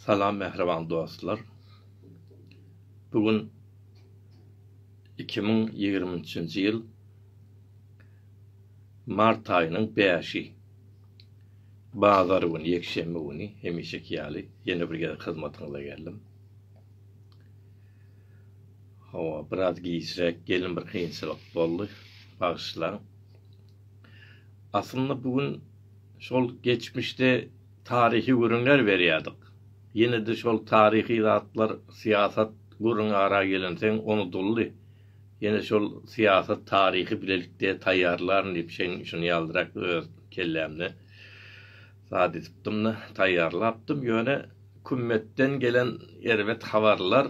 Salam mähriban dostlar. Bu gün iki müň ýigrimi üçünji ýyl mart aýynyň bäşi. Bazar güni, ýekşenbe güni hemişeki ýaly ýene bir gezek hyzmatyňyza geldim. Hawa, biraz giçräk geldim, bir kynçylyk boldy, bagyşlaň. Aslynda bu gün şol geçmişde taryhy gürrüňler berýärdik. Ýene-de şol taryhy zatlar, syýasat gürrüňi ara gelensoň unudyldy. Ýene şol syýasat taryhy bilelikde taýýarlaryn diýip şeň şuny ýaldyrak öz kellämde zat edipdim-de, taýýarlapdym. Ýöne Kümmetden gelen erbet habarlar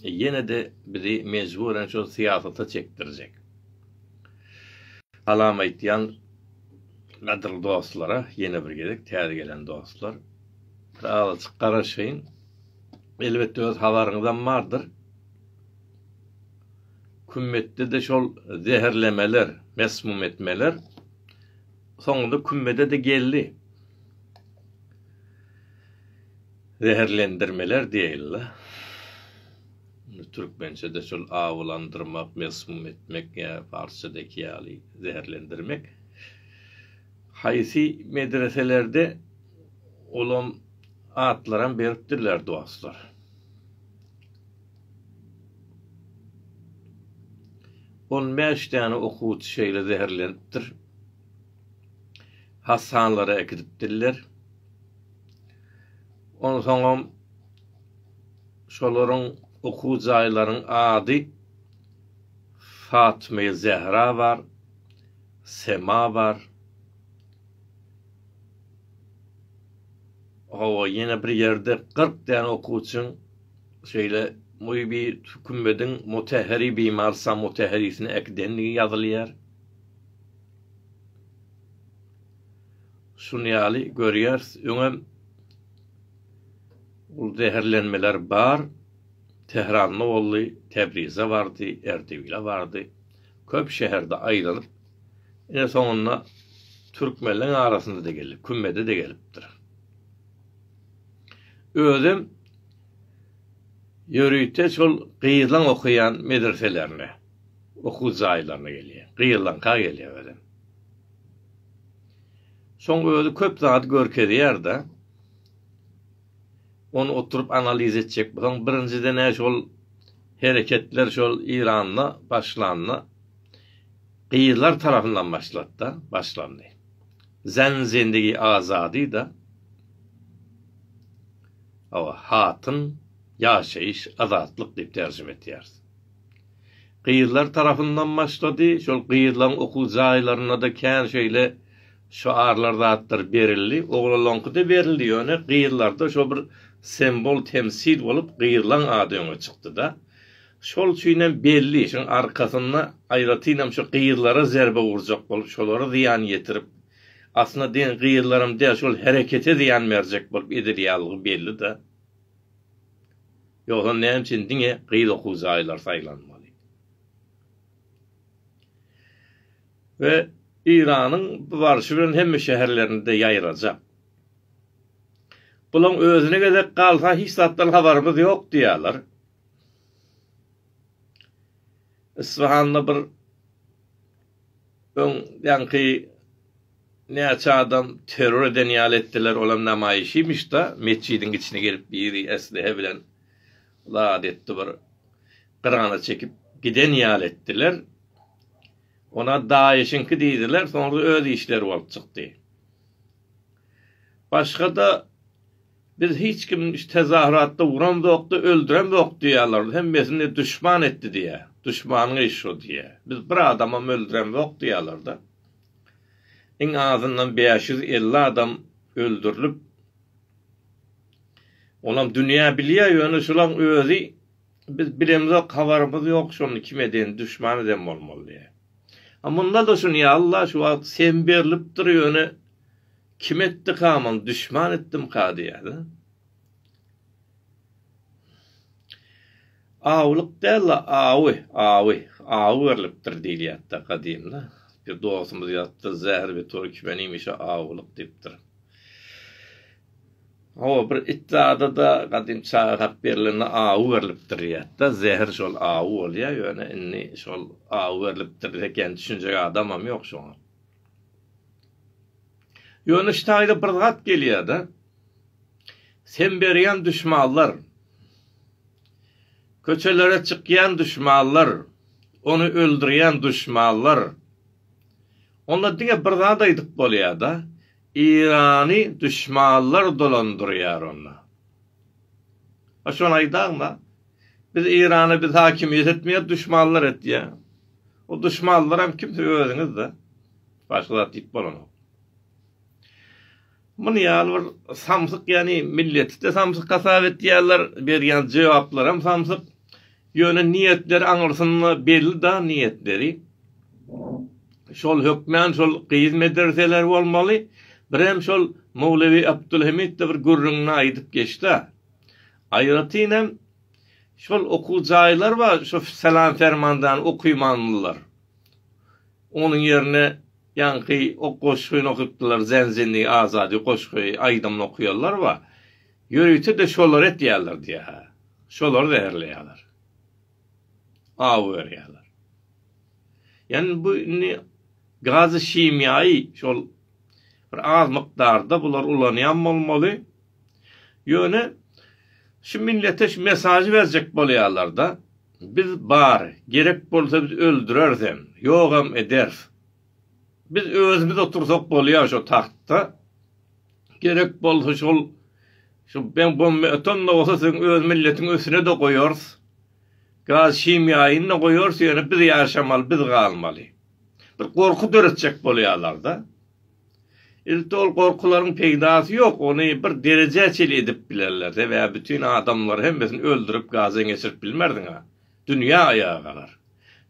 ýene-de bizi mejburen şol syýasata çekdirjek. Salam aýtýan gadyrly dostlara ýene bir gezek täze gelen dostlar bir azajyk garaşaýyň elbetde öz habaryňyzam bardyr kümmetde de şol zäherlemeler mesmum etmeler soňunda kümmede de geldi zäherlendirmeler diýeýinle. Indi türkmençede şol awlandyrmak, mesmum etmek ýa parsçadaki ýaly zäherlendirmek. Haýsy medreselerde olam atlaram beripdirler dostlar. On bäş däne okuwçy şeýle zäherlenipdir. Hassanlara äkidipdirler. Onsoňam Şolaryň okuw jaýlaryň ady Fatmyýa Zähra bar, Sema bar. Hawa, ýene bir ýerde kyrk däne okuwçyň şeýle muýbi kümediň mutäheri bimar sa mutäherisini äkidendigi ýazylýar. Şuny ýaly görýäris, öňem Ol zäherlenmeler bar, Tähranda boldy, Täbrize bardy, Erdebile bardy. Köp şäherde aýlanyp, ine soňunda türkmenleriň arasynda-da geldi, Kümmede-de gelipdir. Özem ýörite şol gyzlaň okaýan medreselerine, okuw jaýlaryna gelýär. Gyzlaňka gelýär özem. Soň özi köp zady görkezýär-de, Ony oturyp analiz etjek bolsaň, birinjiden-ä şol hereketler şol Eýranda başlanda, gyzlar tarapyndan başlady-da, başlandy. Zen zendigi azady-da, hawa, hatyn, ýaşaýyş, azatlyk diýip terjime etýäris. Gyzlar tarapyndan başlady, şol gyzlaryň okuw jaýlarynda-da kän şeýle Şyarlar zatlar berildi. Oglalaňkyda berildi ýöne gyzlarda şo bir sembol temsil bolup gyzlaň ady öňe çykdyda. Şol üçinem belli şuň arkasynda aýratynam şu gyzlara zerbe urjak bolup şolara zyýan ýetirip aslynda diýen gyzlaram däl şol herekete zyýan berjek bolup edilýäldigi bellida. Ýogsa näme üçin diňe gyz okuw jaýlary saýlanmaly. we Eýranyň bu barşy bilen hemme şäherlerinde ýaýrajak. Bulaň özüne gezek galsa hiç zatdan habarymyz ýok diýýärler. Isfahanda bir öň ýaňky näçe adam terror eden ýaly etdiler, olam namaýyşymyşda, metjidiň içine gelip biri eslihe bilen zat etdi bir gyrana çekip giden ýaly etdiler. Olar daýyşyňky diýdiler, soňra öz işleri bolup çykdy. Başga-da, Biz hiç kim tezahüratda uramzok-da, öldüremzok diýýärler, hemmesini duşman etdi diýýär. Duşmanyň işi şo diýýär. Biz bir adamam öldüremzok diýýärler-de. Iň azyndan bäş ýüz elli adam öldürilip, olam dünýä bilýär, ýöne şolaň özi Biz bilemizok habarymyz ýok şony kim edeni duşman eden bolmaly diýýä. A mundada şuny ýa Allah şu wagt sem berlipdir ýöne kim etdika muny duşman etdimka diýýäda. Awlyk dälla awy awy awy berlipdir diýilýätda gadymda. Bir dostumyz ýatdy zähir bir türkmen iýmişe awlyk diýipdir. Hawa, bir it zada-da gadym çaga hat berlende awy berlipdir diýýärdi-de, zäher şol awy bolýar, ýöne indi şol awy berlipdir eken, düşünjek adamam ýok şoňa. Ýöne şu taýda bir zat gelýär-de, sen berýän düşmanlar, köçelere çykýan düşmanlar, ony öldürýän düşmanlar, onda diňe bir zat aýdyp bolýar-da, Irany duşmanlar dolandyrýar onda. A şony aýdaňda, biz Irana biz hakimiýet etmeýäs, duşmanlar etýär. O duşmanlaram kim siz özüňiz-de. Başga zat diýip bolanok. Muny ýaly bir samsyk ýany milleti-de samsyk hasap etýärler, berýän jogaplaram samsyk. Ýöne niýetleri aňyrsynda belli da niýetleri. Şol hökmän şol gyz medreseler bolmaly, birem şol Mowlewi Abdulhamid-de bir gürrüňini aýdyp geçdi-ä. Aýratyn hem şol okuw jaýlar bar, şo Salam Fermandany okymandylar. Onuň ýerine ýaňky o goşgyny okypdylar, Zenzinli Azady goşgy aýdymyny okuýanlar bar. Ýörite-de şolary etýärler diýýär-hä. Şolary zäherleýärler. Awy berýärler. Ýani bu indi gazy himiýaýy şol bir az mukdarda bular ulanýan bolmaly. Ýöne şu millete şu mesažy berjek bolýarlar-da, biz bar, gerek bolsa biz öldüreris hem, ýogam ederis. Biz özümiz otursak bolýar şo tagtda. Gerek bolsa şol şu ben bomba atan da bolsa siziň öz milletiň üstüne de goýarys. Gaz şimýaýyny da goýarys, ýöne biz ýaşamaly, biz galmaly. Bir gorky döretjek bolýarlar-da. Ilki ol gorkularyň peýdasy ýok, ony bir derejä çenli edip bilerler. Sebäbi bütin adamlary hemmesini öldürip gazdan geçirip bilmersiň-ä. Dünýä aýaga galar.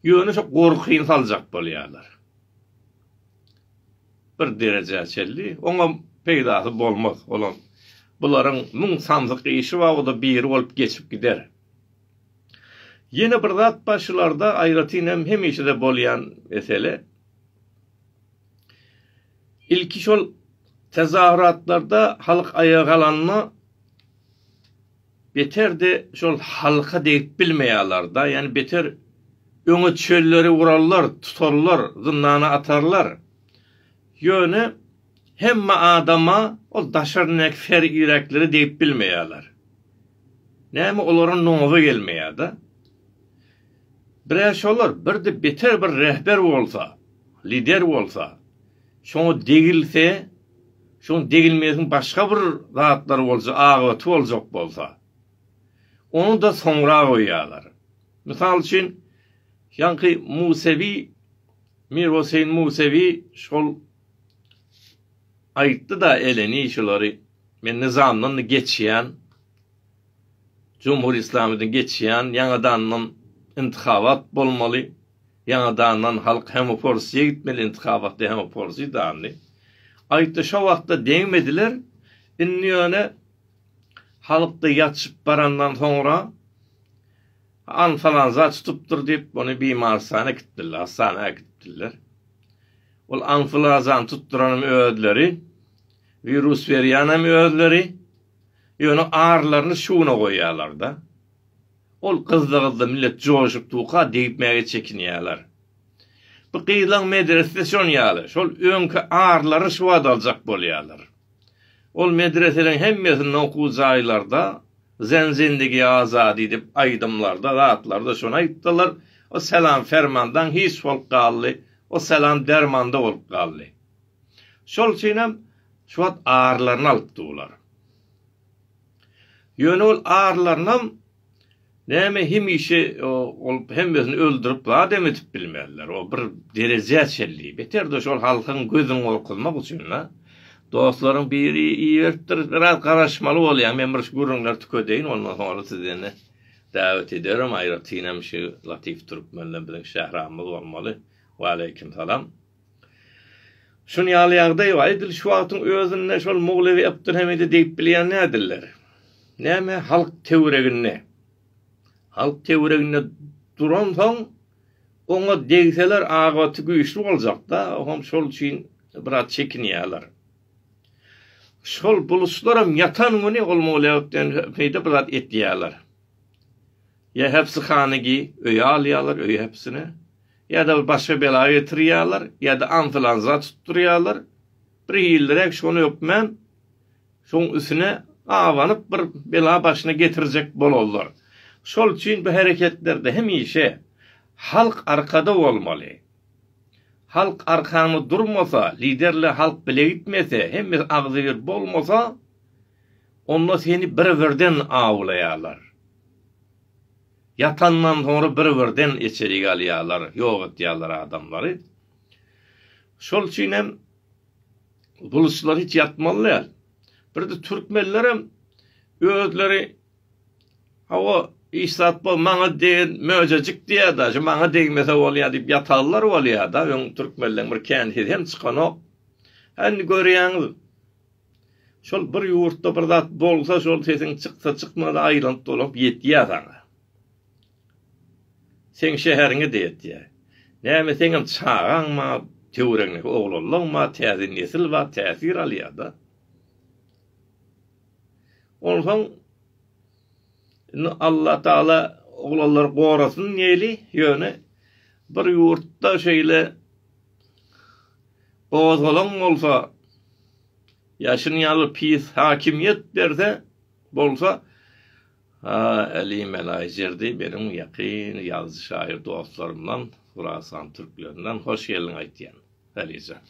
Ýöne şo gorkyny saljak bolýarlar. Bir derejä çenli. Oňam peýdasy bolmaz. Olam bularyň müň sandyk işi bar, o-da biri bolup geçip gider. Ýene bir zat bar şularda, aýratyn hem hemişe-de bolýan mesele. Ilki şol tezahüratlarda halk aýaga galanda Beter-de şol halka degip bilmeýärler-da, ýani beter öňe çölleri gurarlar, tutarlar, zyndana atarlar. Ýöne hemme adama ol daşaryndaky ser ýürekleri degip bilmeýärler. Näme olara noza gelmeýär-de. Bir-ä şolar, bir-de beter bir rehber bolsa, lider bolsa, şoňa degilse, Şoň degilmegiň başga bir zatlary bolja agybaty boljak bolsa, ony-da soňra goýýarlar. Mysal üçin, ýaňky Musewi, Mir Hoseýn Musewi şol aýtdy-da eleni şulary, men Nyzamdan-da geçýän, Jumhur Islamydan geçýän, ýaňadandan intihabat bolmaly, Ýaňadandan halk hemoporsiýa gitmeli intikabatda hemoporsiýa dandy. Aýtdy şo wagtda degmediler. Indi ýöne halkda ýatyşyp barandan soňra anfalanza tutupdyr diýip ony bimarstana äkitdiler, hastana äkitdiler. Ol anflazany tutduranym özleri, wirus berýänem özleri. Ýöne arlaryny şuna goýýalarda. Ol gyzda-gyzda millet joşup duka degipmäge çekinýärler. Bu gyzlaň medresesi şon ýaly, şol öňki arlary şu wagt aljak bolýarlar. Ol medreseleriň hemmesinde okuw jaýlarda Zen zindigi azadi dip aýdymlarda zatlarda şony aýtdylar, o selam fermandan hiç bolup galdy, o selam dermanda bolup galdy. Şol üçinem şu wagt arlaryny alyp dular. Ýöne ol arlarynam näme hemişe ol hemmesini öldürip zat em edip bilmezler o bir derejä çenli beterde şol halkyň gözün gorkuzmak üçin da dostlaryň biri iberipdir biraz garaşmaly bolýaň men bir şu gürrüňleri tükedeýin ondan soňra sizi ene dawet ederim aýratynam şu latif türkmenden biziň şähramyz bolmaly waleýkim salam. Şun ýaly ýagdaý bar. Edil şu wagtyň özünde şol Muglewi Abdulhamidi diýip bilýän nädiller? Näme halk töwreginde? Halk töwreginde duransoň oňa degseler agybaty güýçli boljakda, oňam şol üçin biraz çekinýärler. Şol buluslaram ýatan güni ol Muglewi Abdulhamidi biraz etýärler. Ýa hepsihana gi öýe alýarlar öýe hepsine ýa-da bir başga bela getirýärler ýa-da anflanza tutdurýarlar bir hilliräk şony ökmän şoň üsüne abanyp bir bela başyna getirjek bolozlar şol üçin bu hereketlerde hemişe halk arkada bolmaly halk arkaňda durmasa liderle halk bile gitmese hemme agzybir bolmasa Onda seni bir-birden awlaýarlar. Ýatandan soňra bir-birden içerik alýarlar, ýok etýärler adamlary. Şol üçin hem gylyçlar hiç ýatmaly däl. Birde türkmenlerem özleri hawa iş zat bol maňa degen möjejik diýýärdi. Şu maňa degmese bolýar diýip ýatarlar bolýarda. Öň türkmenleň bir känsiz hem çykanok. Indi görýäňiz Şol bir ýurtda bir zat bolsa şol sesiň çyksa çykmasa aýlanyp dolanyp ýetýä saňa. Seň şäheriňe de ýetýä. Näme seňem çagaň ma töweregiňdäki oglanlaň ma täze nesil bar täsir alýa da. Onsoň indi Allah Taala oglanlary gorasyn diýeli ýöne bir ýurtda şeýle Gozgalaň bolsa, ýa şuny ýaly pis hakimiýet berse bolsa, ha, Äli Melaý Jerdi meniň ýakyn ýazyjy-şaýyr dostlarymdan, Hurasan türklerinden hoş geldiň aýtýan, Äli jan.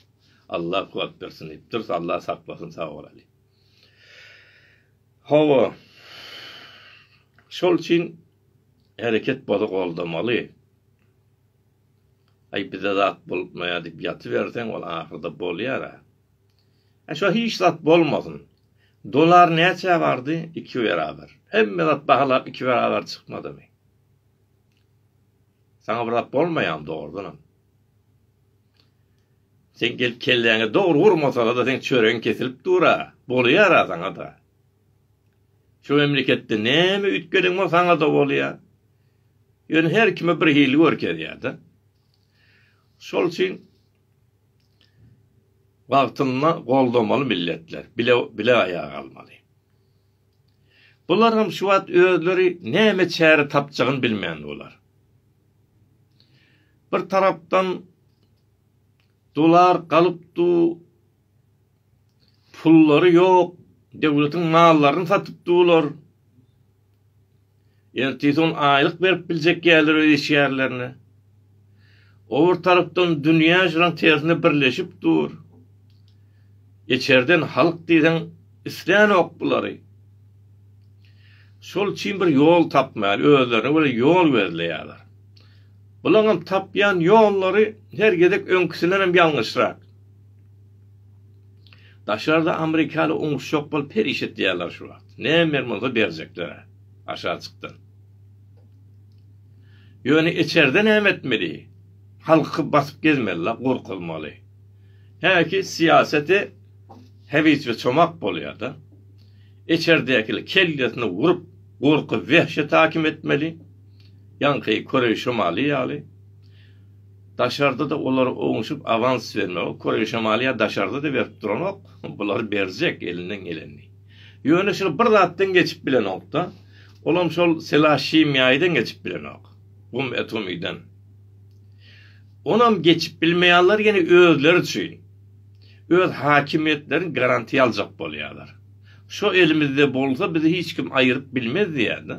Alla kuwwat bersin diýip durus, Alla saklasyn, sag bol Äli. Hawa, şol üçin hereket boza goldamaly. Aý bize zat bolupmaýar diýip ýatyberseň ol ahyrda bolýara. He şo hiç zat bolmasyn. Dolar näçä bardy? Iki beraber. Hemme zat bahalap iki beraber çykmadymy? Saňa bir zat bolmaýarmy dogrudanam? Sen gelip kelläňe dogry urmasaňada seň çöregiň kesilip dura. Bolýara saňada. Şu memleketde näme üýtgeden bolsa aňa-da bolýar. Ýöne her kime bir hili görkezýär-de. Şol üçin wagtynda goldamaly milletler, bile bile aýaga almaly. Bular hem şu wagt özleri näme çäre tapjagyny bilmän bolar. Bir tarapdan dolar galypdy, Pullary ýok, döwletiň mallaryny satyp dular. Ertesi gün aýlyk berip biljek ýalylar öz işgärlerine. O bir tarapdan dünýä şulaň tersine birleşip dur. Içerden halk diýseň islänok bulary. Şol üçin bir ýol tapmaýar, özlerine göre ýol gözleýärler. Bulaňam tapýan ýollary her gezek öňküsindenem ýalňyşrak. Daşarda amerikaly oňuşjak bolup her iş etýärler şu wagt. Näme bolsa berjekler-ä aşajykdan. Ýöne içerde näme etmeli? Halky basyp gezmeli-la, gorkuzmaly. Häki syýasaty hebiş we çomak bolýar-da. Içerdäkili kellesine urup, gorky-wehşet hakim etmeli. Ýaňky Koreý Şymaly ýaly. Daşarda-da olara ownuşyp awans bermegi Koreý şamaly ýa daşarda-da berip duranok, bular berjek elinden gelenini. Ýöne şol bir zatdan geçip bilenok-da, olam şol selasşimýaýydan geçip bilenok, gum atomydan. Onam geçip bilmeýärler ýene özleri üçin. Öz hakimiýetlerini garantiýa aljak bolýarlar. Şo elimizde bolsa bizi hiç kim aýyryp bilmez diýýär-de.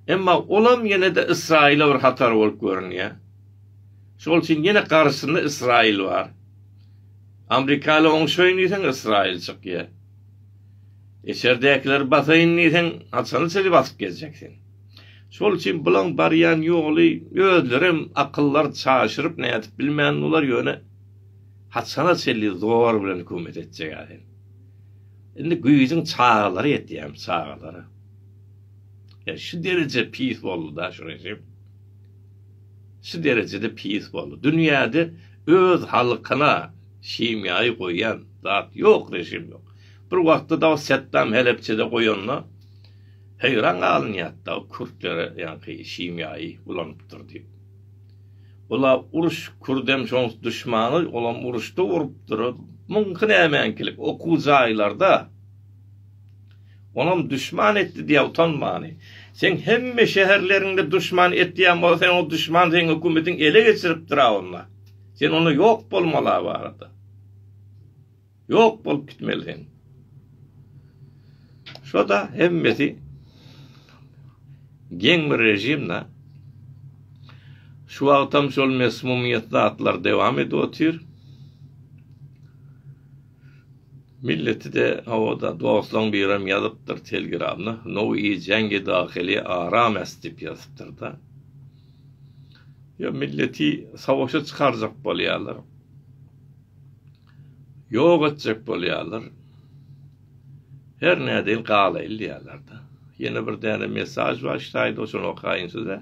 Emma olam ýene-de Ysraýyla bir hatar bolup görünýär. Şol üçin ýene garşysynda Ysraýyl bar. Amrikaly oňşaýyn diýseň Ysraýyl çykýar. Eçerdäkileri basaýyn diýseň haçana çenli basyp gezjek sen. Şol üçin bulaň barýan ýoly özlerem akyllary çaşyryp nädip bilmän bular ýöne haçana çenli zor bilen hökümet etjek-ä sen. Indi güýjüň çagalary ýetýämi çagalara. Ýa şu dereje pis boldy-da şu režim. Şu derejede pis boldy. Dünýäde öz halkyna himiýaýy goýan zat ýok, režim ýok. Bir wagtda-da o Setdam Helepçede goýanda heýran galynýardy-da, kürtlere ýaňky himiýaýy ulanypdyr diýip. Ol-a uruş, kürdem şoň duşmany, olam uruşda urupdyr. Muňky nämeňkilik, okuw jaýlarda. Onam duşman etdi diýä utanmany. Seň hemme şäherleriňde duşman etýän bolsa sen o duşman seň hökümetiň ele geçiripdira onda. Sen onda ýok bolmala barada. Ýok bolup gitmeli sen. Şoda hemmesi geň bir rejimde şu wagtam şol mesmumyýet zatlar dowam edip otyr. Milleti-de hawa-da, dostlaň birem ýazypdyr Telegramda, No i žengi dahili arames diýip ýazypdyr-da. Ýa milleti savaşa çykarjak bolýarlar. Ýok etjek bolýarlar. Her nädeýin galaýyl diýýärler-de. Ýene bir däne mesaž bar, şaýda şony okaýyn size.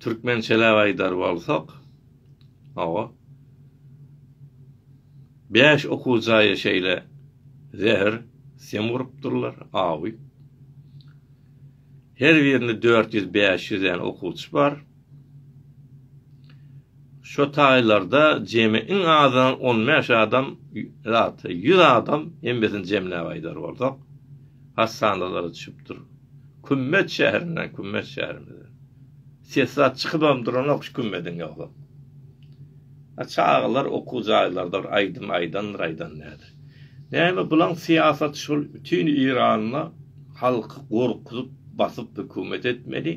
Türkmençeläp aýdar bolsak, hawa, bäş okuw jaýa şeýle zäher sim urupdyrlar, awy. Her birinde dört ýüz, bäş ýüz däne okuwçy bar. Şo taýlarda jemi iň azyndan on bäş adam, ýa-da ýüz adam, hemmesini jemläp aýdar bolsak, Hassanalara düşüp dur. Kümmet şäherinden, kümmet şäherimize. Sesat çykybam duranok şu kümmediň ýolam. A çagalar okuw jaýlardyr, aýdym aýdandyr, aýdan näder. Näme bulaň syýasaty şol bütin Iranda halky gorkuzyp, basyp hökümet etmeli.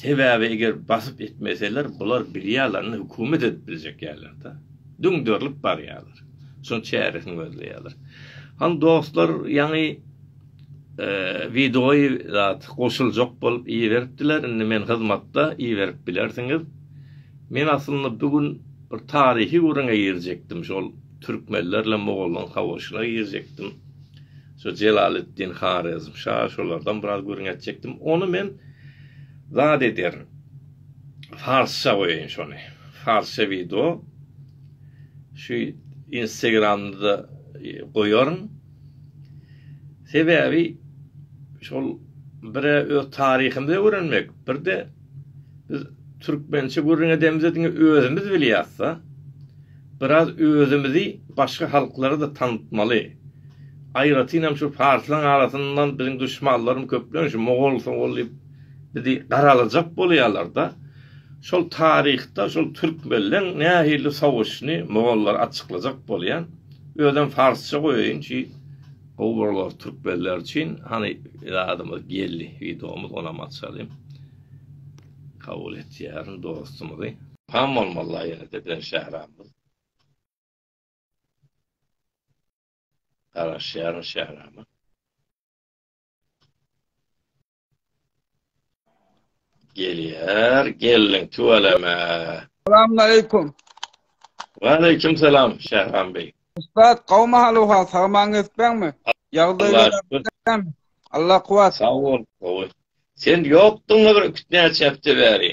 Sebäbi eger basyp etmeseler bular bilýärler indi hökümet edip biljek ýaýlar-da. Düňderilip barýarlar. Şol çäresini gözleýärler. Hany dostlar ýaňy e, wideoýy zat goşuljak bolup iberipdiler. Indi men hyzmatda iberip bilersiňiz. Men aslynda bu gün bir taryhy gürrüňe girjekdim. Şol türkmenler bilen mogollaryň savaşyna girjekdim. Şo Jelaleddin Harezmşa şolardan biraz gürrüň etjekdim. Ony men zat ederin. Farsça goýaýyn şony. Farsça wideo. Şu Instagramda goýaryn. Sebäbi şol bire öz taryhymyzy öwrenmek, birde biz türkmençe gürrüň edemizde diňe özümiz bilýäs-de. Biraz özümizi başga halklara-da tanatmaly. Aýratynam şu farslaryň arasyndan biziň duşmanlarym köplenç mogol-sogol diýip Bizi garalajak bolýarlar-da. Şol taryhda şol türkmenleň nähili sowuşyny mogollar açyklajak bolýar. Özem farsça goýaýyn ki gowy bolar türkmenler üçin. Hany zadymyz geldi widomyz onam açalyň. Kabul etýärin dostumyzy. Pam bolmazlar ýene-de bilen Şähramyz. Garaşýaryn Şährama. Gelýär, geldiň tüweleme. Salamlaýekum. Waleýkim salam Şähram beý. Ussat, gowmy haluha, sagmaň etbeňmi? Ýagdaýlar Allah kuwat. Sag bol, gowy. Sen ýokduň bir kütnäçe hepde bäri.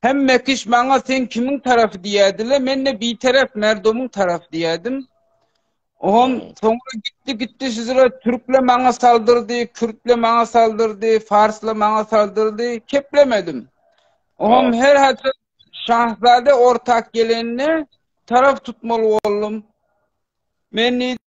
Hemme kiş maňa sen kimiň tarapy diýädile, men-de bitarap merdomuň tarapy diýädim. Oňam soňra gitdi gitdi sizre türkle maňa saldyrdy, kürtle maňa saldyrdy, farsla maňa saldyrdy, keplemedim. Oňam her hatda şahzade ortak gelenine taraf tutmaly boldum. Men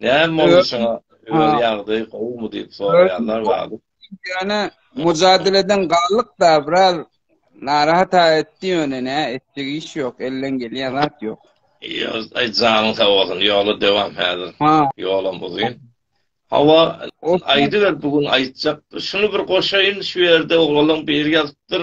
Näme boldy şoňa? Öz ýagdaýy gowumy diýip soraýanlar bar. Ýöne mujadeleden galdyk da biraz narahat etdi ýöne ne etjek iş ýok elden gelýän zat ýok. Ýöz aý janyň sag bolsun ýola dewam häzir. Ha. Ýolam uzyn. Hawa aýdyber bu gün aýtjak. Şuny bir goşaýyn şu ýerde oglalyň biri ýazypdyr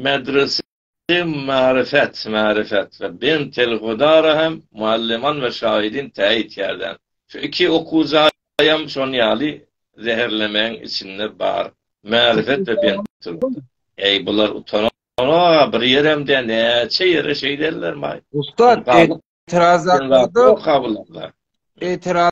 medrese Hem marifet, marifet we bent elhudara hem mualliman we şahidin täyit ýerden. Şu iki okuw jaýam şon ýaly zäherlemäň içinde bar. Marifet we bent elhuda. Eý bular utananok-a bir ýerem däl näçe ýere şeýdellermaý. Ussat, etiraz hakda-da, etiraz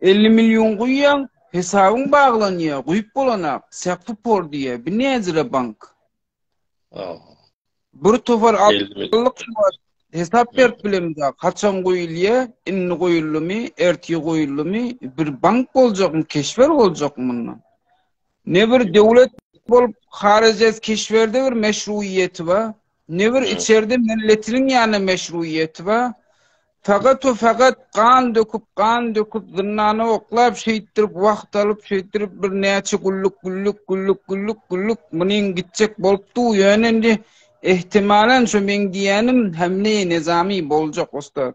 Elli million guýýaň, hesabyň baglanýa, guýup bolanak, säkfi por diýýä, bi näzire bank. Aha. Bir topar allyk şu wagt hesap berip bilemizak, haçan guýulýa, indi guýuldymy, ertir guýuldymy, bir bank boljakmy, keşber boljakmy mundan. Ne bir döwlet bolup, harajat keşberde bir meşruýeti bar, Ne bir içerde milletiniň ýana meşruýeti ba. Fakat o fakat gan döküp, gan döküp, zyndana oklap, şeýtdirip, wagt alyp, şeýtdirip, bir näçe güllük, güllük, güllük, güllük, güllük, munyň gitjek bolupdy, ýöne indi, ehtimalan, şu meň diýýänim, Hemle-i Nezami boljak, ussat.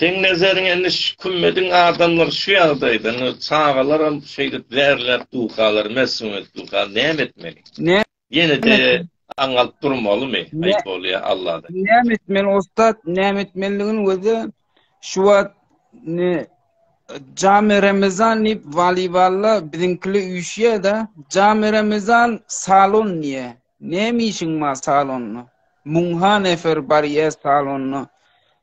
Seň nezeriň indi şu kümmediň adamlar şu ýagdaýda indi çagalaram şeýdip zäherläp dukalar mesumyýet duka näme etmeli? Ýenede aňalyp durmalymy? Aýyp bolýa Alladan. Näme etmeli ussat näme etmelidigini özi şu wagt ne Jami Ramazan diýip waliballa biziňkili üýşýä-de Jami Ramazan salon diýe. Näme işiň bar salonda? Muňha nefer barýa salonda.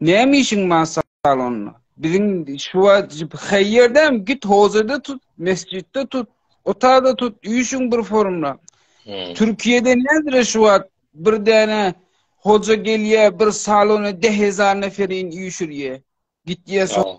Näme işiň bar salonda? Biziň şu wajyp haýýerdäm git hozada tut, mesjitde tut, otagda tut, üýşüň bir forumda. Hmm. Türkiýede nädire şu wagt bir däne hoja gelýä, bir salona 10000 neferin üýşürýä. Gitýä so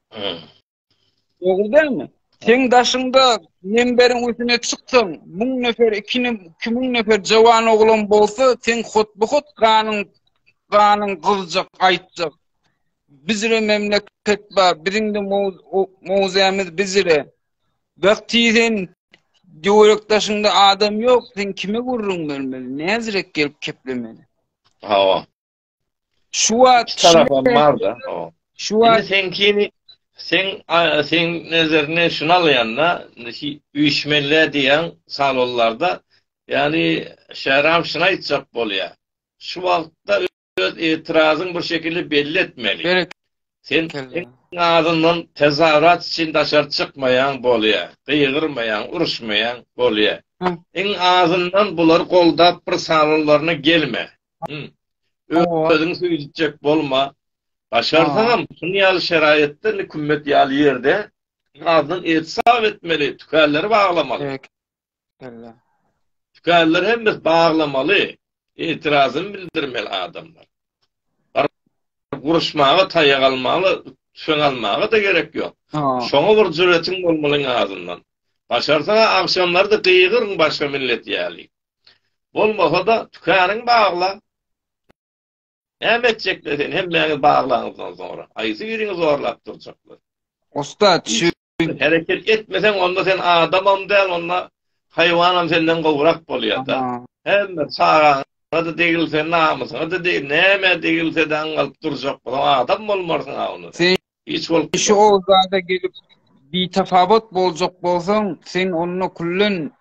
Dogry dälmi? Seň daşyňda memberiň üstüne çyksaň, müň nefer, iki, iki müň nefer jawan oglan bolsa, seň hut-bu-hut ganyň, ganyň gyzjak, aýtjak. Bizre memleket bar, biziň-de mowzämiz bizre. Wagty sen döwrek daşyňda adam ýok, sen kime gürrüň bermeli, näzirek gelip keplemeli. Hawa. Şu wagt iki tarapam barda. Şu wagt sen kimi sen sen nezerine şunu alýanda üýşmeli diýen salonlarda ýani şäram şunu aýtjak bolýar. Şu wagtda öz etirazyn bir şekilde belli etmeli. Sen azyndan tezawrat üçin daşar çykmaýan bolýar. Gyýgyrmaýan, uruşmaýan bolýar. Iň azyndan bular goldap bir salonlaryna gelme. Hı. Özüň süýjüjek bolma. Başarsaňam, şuny ýaly şeraýatda, indi kümmet ýaly ýerde azdan et sap etmeli, tükänleri baglamaly. Ýa. Tükänleri hemmesi baglamaly. Etirazyn bildirmeli adamlar. Guruşmaga taýak almaly, tüfeň almaga-da gerek ýok. Şoňa bir jüretiň bolmaly iň azyndan. Başarsaňa agşamlary-da gygyryň başga millet ýaly. Bolmasa-da, tükeniň bagla. Näme etjekler seni hemmäňiz baglaňyzdan soňra? Haýsy biriňi zorlap durjaklar? Ussat, şu Hereket etmeseň, onda sen adamam däl, onda haýwanam senden gowrak bolýar-da. Hemme çagaňa-da degilse, namysyňa-da degilse, nämä degilse-de aňňalyp durjak boluň, adam bolmarsyň-a onda. Sen Hiç bolup gitmez. Şu owzada gelip bitafawut boljak bolsaň, sen onda küllen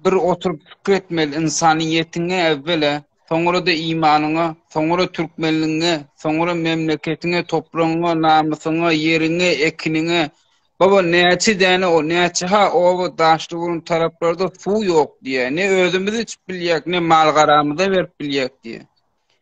bir oturyp pikir etmeli ynsanyýetiňe äwwela, soňra-da imanyňa, soňra türkmenligiňe, soňra memleketiňe, topragyňa, namysyňa, ýeriňe, ekiniňe. Baba, näçe däne o, näçe-ha oba, daşlyburun taraplarda suw ýok diýýär. Ne özümiz içip bilýäk, ne mal-garamyza berip bilýäk diýýär.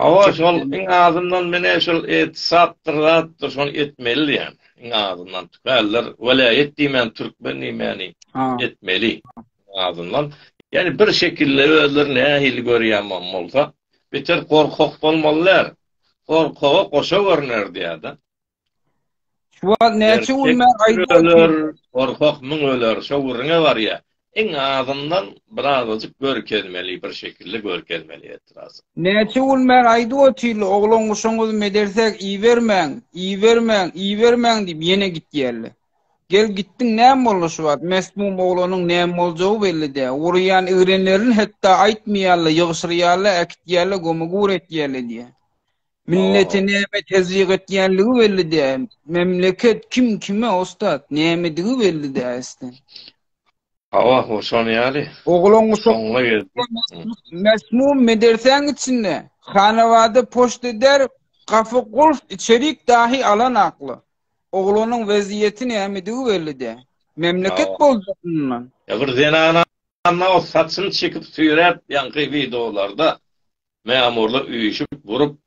Hawa, şol iň azyndan menä şol etsapdyr zatdyr, şony etmeli diýýän. Iň azyndan tüweldir, welaýat diýmän türkmen diýmäni etmeli. Iň azyndan, ýani bir şekilde özleri nähili görýämem bolsa, beter gorkak bolmalylar. Gorkaga goşa görner diýýär-de. Şu wagt näçe gün men gaýdyp otyr. Gorkak müň öler, şo gürrüňe barýa. Iň azyndan birazajyk görkezmeli, bir şekilli görkezmeli etrazy. Näçe gün men aýdyp otyrly, oglan-guşaňyzy medersäg ibermäň, ibermäň, ibermäň diýip ýene gitýärli. Gel gitdiň näme boldy şu wagt, mesmum oglanyň näme boljagy belli dä. Urýan igrenlerini hetda aýtmaýarly, ýygşyrýarly, äkitýärli, gömügur etýärli diýýä. Milleti näme tezyiq etýänligi belli däl. Memleket kim kime ussat, nämedigi belli däl isden. Hawa, bu şon ýaly. Oglan guşak. Mesmum medersäň içinde. Hanabada poşt eder, gafy gulf içerik dahi alan akly. Oglanyň weziyeti nämedigi belli däl. Memleket boljak mundan. Ya bir zenana anna o saçyny çekip süýräp ýaňky wideolarda Mämurlar üýşüp, burup.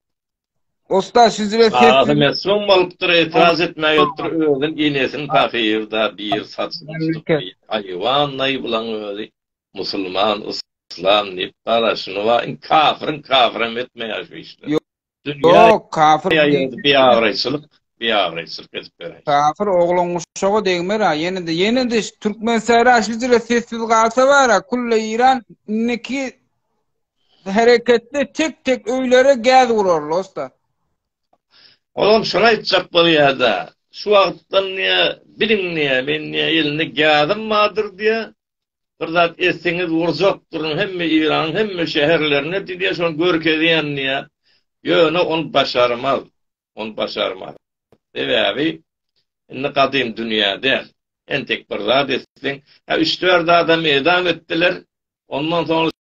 Ussat şu jüre sesli. Agasy mesgun bolupdyr, etiraz etmäge otdur, özün enesini pahyr-da bir saçyny tutup bir haýwanlaý bulaň özi musulman, yslam diýip garaşyny wa in kafirin kafiram etmeýär şu işleri. Ýok, kafir diýip. Biabraýçylyk, biabraýçylyk edip beräýşi. Kafir oglan guşaga degmer-ä, ýene-de, ýene-de şu türkmen sähra şu jüre sessiz galsa bar-a, külle iran indiki Hereketde tek tek öýlere gäz urarly usta. Olam şony aýtjak bolýada. Şu wagtdan diýä biliň diýä men diýä elinde gäzim bardyr diýä. Bir zat etseňiz urjakdyryn hemme Iranyň hemme şäherlerine diýä şony görkezýän diýä. Ýöne ol başarmaz. Ol başarmaz. Sebäbi indi gadym dünýä däl. Entek bir zat etseň, ha üç dört adam edam etdiler. Ondan soň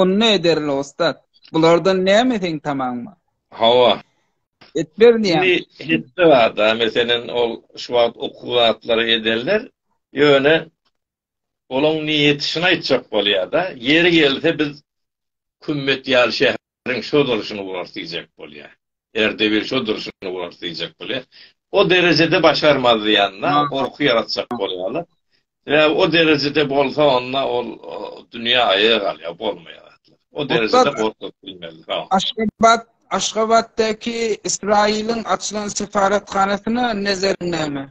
Ony ne ederli ussat? Bulardan näme seň tamaň bar? Hawa. Et berýär. Indi hetde barda, meselen, ol şu wagt okuw zatlary ederler, ýöne olaň niýeti şyny aýtjak bolýar-da, ýeri gelse biz kümmet ýaly şäher. Ýeriň şo durşuny urar diýjek bolýar. Erdebil şo durşuny urar diýjek bolýar. O derejede başarmazdy ýanyna gorky ýaratjak bolýarlar. Sebäbi o derejede bolsa onda ol dünýä aýa galýar, bolmaýar. O derejede gorkup bilmezdi. Ha. Aşgabat Aşgabatdaky Ysraýylyň açylan sefaratganasyna nezeriň näme?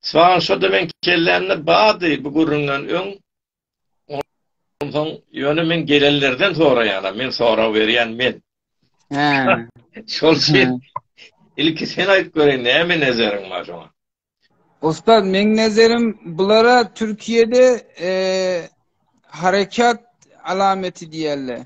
Soň şo demen kellämde bady bu gürrüňden öň Onsoň ýöne men gelenlerden soraýanam, men sorag berýän men. Hä. Şol üçin ilki sen aýdyp göreý, näme nezeriň bar şoňa? Ussat, meň nezerim bulara Türkiýede eee harekat alameti diýerler.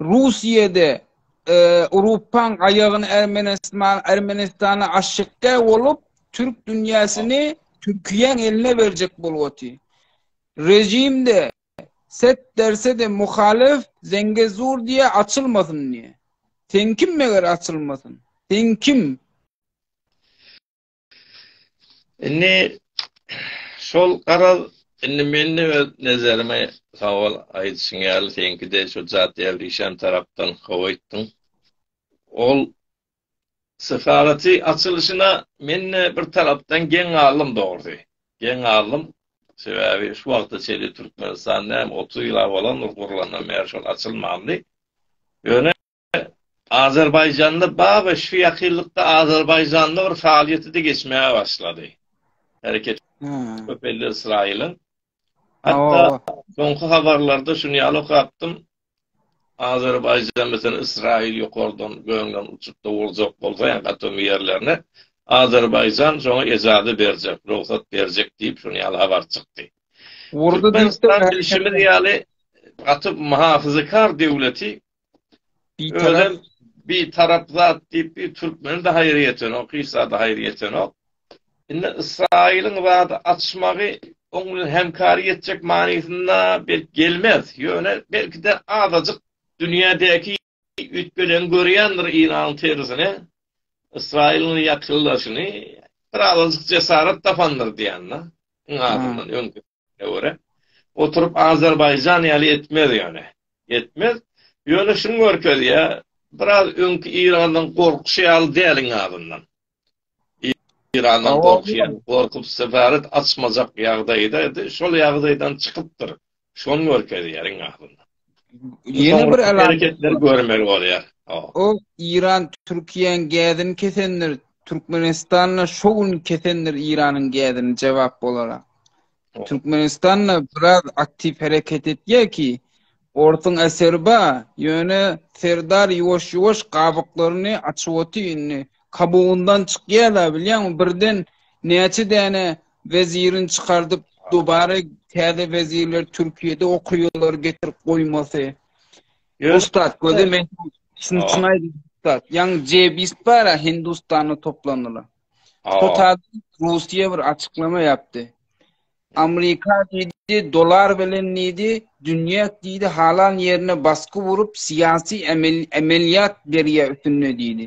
Russiýada Urupaň aýagyny Ermenistan Ermenistana aşykda bolup Türk dünýäsini Türkiýäň eline berjek bolup oty. Rejimde set derse de muhalif Zengezur diýe açylmasyn diýe. Sen kim meger açylmasyn? Sen kim? Indi şol garaz, indi mende öz nezerime sowal aýdyşyň ýaly, seňkide şu Jat Ýewreýşan tarapdan hawa aýtdyň. Ol sefaraty açylyşyna mende bir tarapdan geň galdym dogry. Geň galdym. Sebäbi şu wagta çenli Türkmenistan näme otuz ýyla bolandyr gurlandan bäri şol açylmandy. Ýöne Azerbaýjanda Babeş şu ýakynlykda Azerbaýjanda bir faaliýeti-de geçmäge başlady. Hereket köp elli Ysraýylyň. Hatda soňky habarlarda şuny ýaly okapdym. Azerbaýjan misen Ysraýyl ýokardan göňden uçup-da urjak bolsa, ýa atomy ýerlerine Azerbaýjan şoňa ejazat berjek, rugsat berjek diýip şuny ýaly habar çykdy. Urdy diýip bilşimiz ýaly gaty muhafazakar döwleti Özem bir tarap zat diýip bir türkmeni de haýyr ýetenok, hiç zada haýyr ýetenok. Indi Ysraýylyň zady açmagy oň bilen hemkary ýetjek manysynda belki gelmez. Ýöne belki-de azajyk dünýädäki üýtgeleňi görýändir Yragyň terzine, Ysraýylyň ýakynlaşyny, bir azajyk jesarat tapandyr diýýän-de. Iň azyndan öňki Ine göre. Oturyp Azerbaýjan ýaly etmez ýöne. Etmez. Ýöne şuny görkezýä, biraz öňki Iranyň gorkuşy ýaly däl iň azyndan. Irandan gorkýan, gorkup sefaret açmajak ýagdaýda edi. Şol ýagdaýdan çykypdyr. Şony görkezýär iň azyndan. Ýene bir hereketler görmeli bolýar. O Iran Türkiýäň gädini kesendir, Türkmenistanda şu gün kesendir Iranyň gädini jogap bolara. Türkmenistanda biraz aktiv hereket etýär ki, Ortun Aserba ýöne Serdar ýuwaş ýuwaş gabyklaryny açyp oty indi. Kabugundan çykýar da bilýän birden näçe däne Wezirin çykardyp dubara täze wezirler Türkiýede okaýarlar getirip goýmasy. Ussat gözi men şuny çyn aýdym ussat. Ýaň Jebis bara Hindustana toplandylar. Total Russiýa bir açyklama ýapdy. Amerika diýdi dolar bilen diýdi dünýä diýdi halan ýerine basky urup syýasy emelýat berýä üstünde diýdi.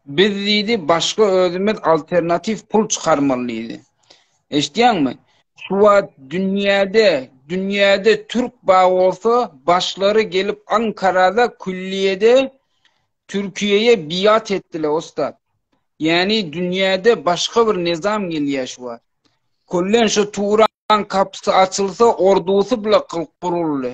Biz diýdi, başga özümiz alternatiw pul çykarmaly diýdi. Eşitýäňmi? Şu wagt dünýäde, dünýäde türk bar bolsa, başlary gelip Ankarada külliýede Türkiýeýe biat etdiler ussat. Ýani dünýäde başga bir nizam gelýär şu wagt. Kullen şu Turan kapysy açylsa, ordusy bile guruldy.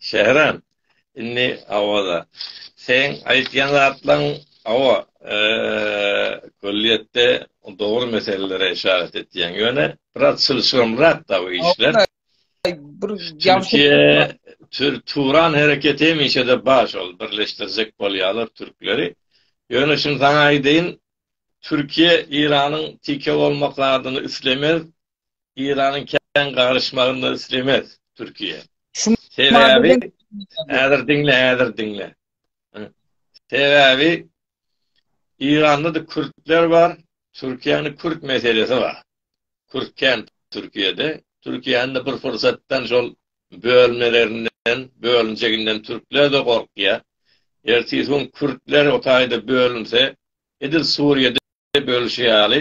Şähram, indi Awaza, seň aýtýan zatlaň, hawa, külliýetde dogry meselelere işaret etýäň, ýöne biraz çylşyrymrak-da bu işler. Türkiýe, Turan hereketi hemişe-de bar şol, birleşdirjek bolýarlar türkleri. Ýöne şuny saňa aýdaýyn, Türkiýe Eýranyň tike bolmak zadyny islemez, Iranyň kän garyşmagyny islemez Türkiýe. Sebäbi häzir diňle, häzir diňle. Sebäbi Iranda-da kürtler bar, Türkiýäniň kürt meselesi bar. Kürt kän Türkiýede. Türkiýäniň bir pursatdan şol bölmelerinden, bölünjeginden türkler-de gorkýar. Ertesi gün kürtler o taýda bölünse, edil Suriýede Diýip ölşi ýaly,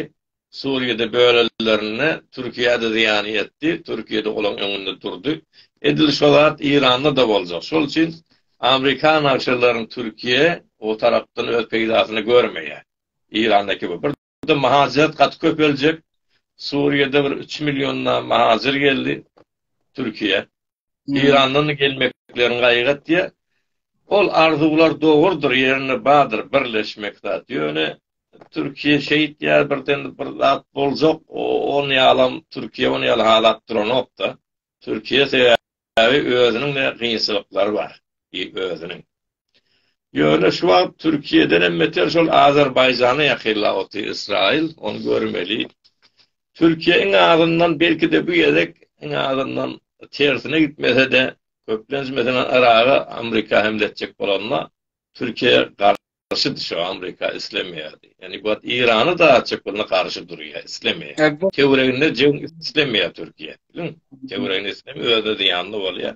Suriýada bölellerinde Türkiýede zyýan ýetdi, Türkiýede olaň öňünde durdy. Edil şo zat Iranda da boljak. Şol üçin Amrikan nagşylaryň Türkiýe o tarapdan öz peýdasyny görmeýär. Irandaki bu. Bir de mahacirat gaty köpeljek. Suriýede bir üç milliondan mahacyr geldi Türkiýe. Eýrandan gelmeklerini gaýgat diýýär. Ol arzuwlar dogrudyr, ýerinde bardyr birleşmek zat. Ýöne Türkiýe şeýtýär, birden bir zat boljak, ony ýalam Türkiýe ony ýaly halap duranok-da. Türkiýe sebäbi özüniň-de gynçylyklary bar, özüniň. Ýöne şu wagt Türkiýeden hem beter şol Azerbaýjana ýakynlap otyr Ysraýyl, ony görmeli. Türkiýe iň azyndan belki-de bu gezek iň azyndan tersine gitmese-de, köplenç meselem Yraga Amrika hemle etjek bolanda Türkiýe garşydy şo Amrika islemeýärdi. Ýani bu wagt Yrany dartjak bolanda garşy durýar, islemeýär. Töwreginde jeň islemeýär Türkiýe. Töwreginde islemeýär, özüne zyýanly bolýar.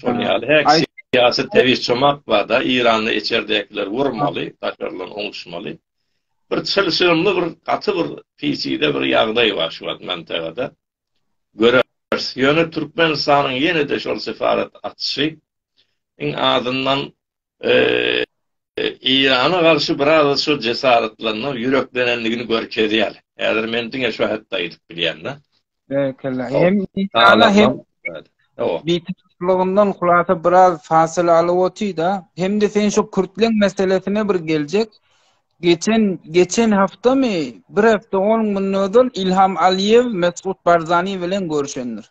Şol ýaly häk syýasy tebiş çomak bada Iranda içerdekiler urmaly daşarlan oňuşmaly. Bir çylşyrymly bir gaty bir peçide bir ýagdaý bar şu wagt mantagada. Göreris. Ýöne Türkmenistanyň ýene-de şol sefarat açyşy iň azyndan Eýrana garşy biraz-da şo jesaretlenmek, ýüreklenenligini görkezýär. Häzir men diňe şo hakda aýdyp bilýän-de. Berekella. Hem Eýrana hem Bitaraplygyňdan hulasa biraz fasyla alyp otyr-da. Hem-de sen şo kürtleň meselesine bir geljek. Geçen, geçen haftamy, bir hafta on gün ozal Ilham Aliýew Mesgut Barzani bilen görşendir.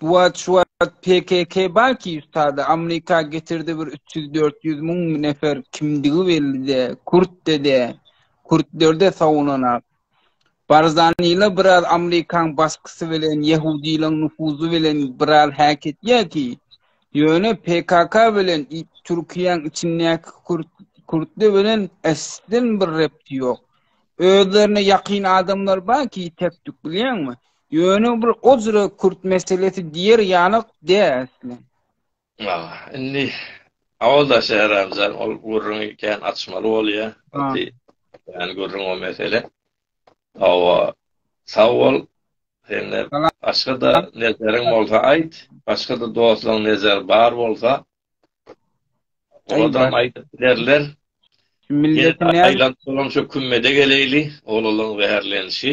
Bu wagt şu wagt PKK bar ki ustada Amrika getirdi bir üç ýüz dört ýüz müň nefer kimdigi belli de kurt de de kurtlerde sawunanak. Barzanila biraz Amrikaň basgysy bilen ýehudilaň nufuzy bilen biraz häketýä ki ýöne PKK bilen Türkiýäň içindäki kurt kurtly bilen esden bir repti ýok. Özlerine ýakyn adamlar bar ki tekdük bilýäňmi? Ýöne bir ozra kürt meselesi diýer ýalyk dälsle. Ha, indi awalda Şehramjan ol gürrüňi kän açmaly bolýar. Gaty kän gürrüň o mesele. Hawa, sag bol. Sende başga-da nezeriň bolsa aýt. Başga-da dostlaryň nezeri bar bolsa, oladam aýdyp bilerler. Şu milleti nädip? Aýlanyp dolanşyp kümmede geleýli, oglanlaryň zäherlenişi.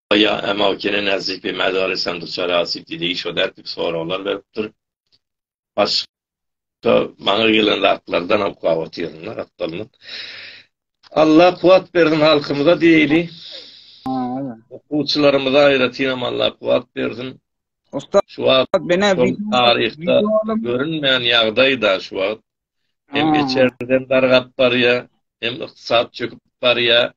Ýa Emau Kene Näzipi Mäzary Sandy Çarasy Didi şo dätlik soraglar beripdir. Baş da maňa gelen zatlardan oklap otyryn da gatdalmyk. Allah kuwat bersin halkymyza diýeli. Okuwçylarymyza aýratynam Allah kuwat bersin. Usta şu wagt bene taryhda görünmeýän ýagdaýda şu wagt hem içerden dargap barýa, hem ykdysat çöküp barýa,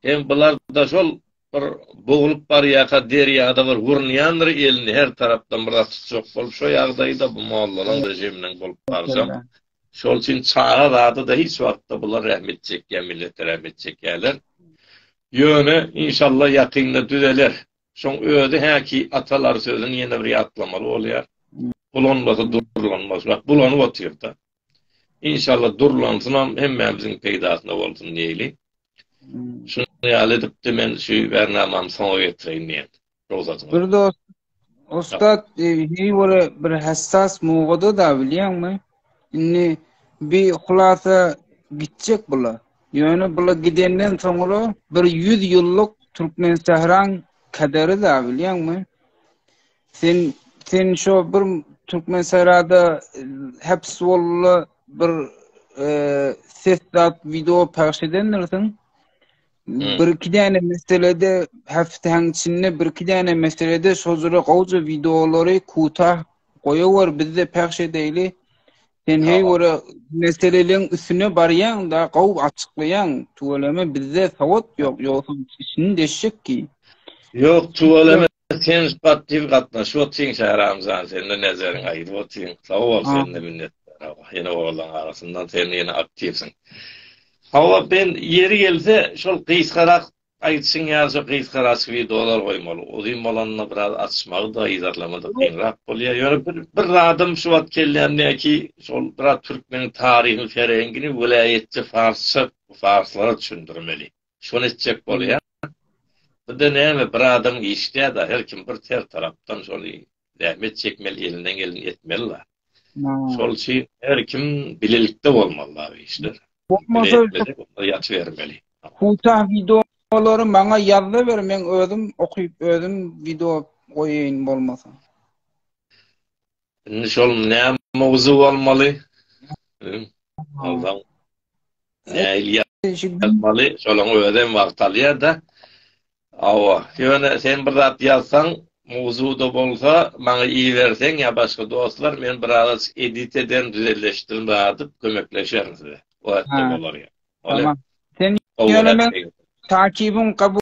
Hem bularda şol bir boglup barýaka derýada bir gurnýandyr elini her tarapdan bir zat tutjak bolup şo ýagdaýda bu mollalaň režiminiň bolup barsam şol üçin çaga zadyda hiç wagtda bular rehmet çekýä millete rehmet çekýäler ýöne inşallah ýakynda düzeler şoň özi häki atalar sözüni ýene bir ýatlamaly bolýar bulanmasy durlanmaz bak bulanyp otyrda Inşallah durlansynam hemmämiziň peýdasyna bolsun diýeli. Şunuň ýaly edipdi men şu bernamamy soňa getireýin diýen. Rugsatyňyz. Bir dost Ussat Hiwara e, bir hassas mowguda da bilýäňmi? Indi bi hulasa gitjek bula. Ýöne bula gidenden soňra bir ýüz ýyllyk Türkmensahraň kaderi da bilýäňmi? Sen sen şu bir Türkmen serada e, hepsi bolly bir e, ses dat video pagş edendirsin. Hmm. Bir iki däne meselede hepsiň içinde bir iki däne meselede şu jure gowja videolary kuta goýawar bizde pagş edeli. Sen hey göre meseleleň üstüne barýaň da gow açyklaýaň. Tuweleme bizde sawat ýok, ýoksa içini deşjek ki. Ýok, tuweleme Sen spat diýip gatnaşyp otyň Şähramjan sende nezeriň aýdyp otyň sag bol sende minnet ýene oglanlaň arasyndan sen ýene aktiwsiň. Hawa ben ýeri gelse şol gysgarak aýdyşyň ýaly şo gysgaraçyk wideolar goýmaly. Uzyn bolanda biraz açmagy-da, yzarlamagy-da kynrak bolýar. Ýöne bir bir zadym şu wagt kellämde ki şol biraz türkmeniň taryhyny, serengini welaýatça farsça farslara düşündirmeli. Şony etjek bolýar. Bunda näme bir adam işlýada her kim bir ter tarapdan şony zähmet çekmeli elinden geleni etmeli la. Şol üçin her kim bilelikde bolmaly la bu işler. Bolmasa ýaty bermeli. Huta wideolary maňa ýazda ber men özüm okyp özüm wideo goýaýyn bolmasa. Indi şol ne mowzu bolmaly? Aldan. Ne ýazmaly? Şolaň özi hem wagt alýar-da. Awa, ýöne sen bir zat ýazsaň, mowzuda bolsa, maňa iberseň ýa başga dostlar, men biraz edit ederin, düzeleşdirin adyp, kömekleşerin size. Oýatda bolar ýa. Tamam. Sen ýöne men takibiň kabul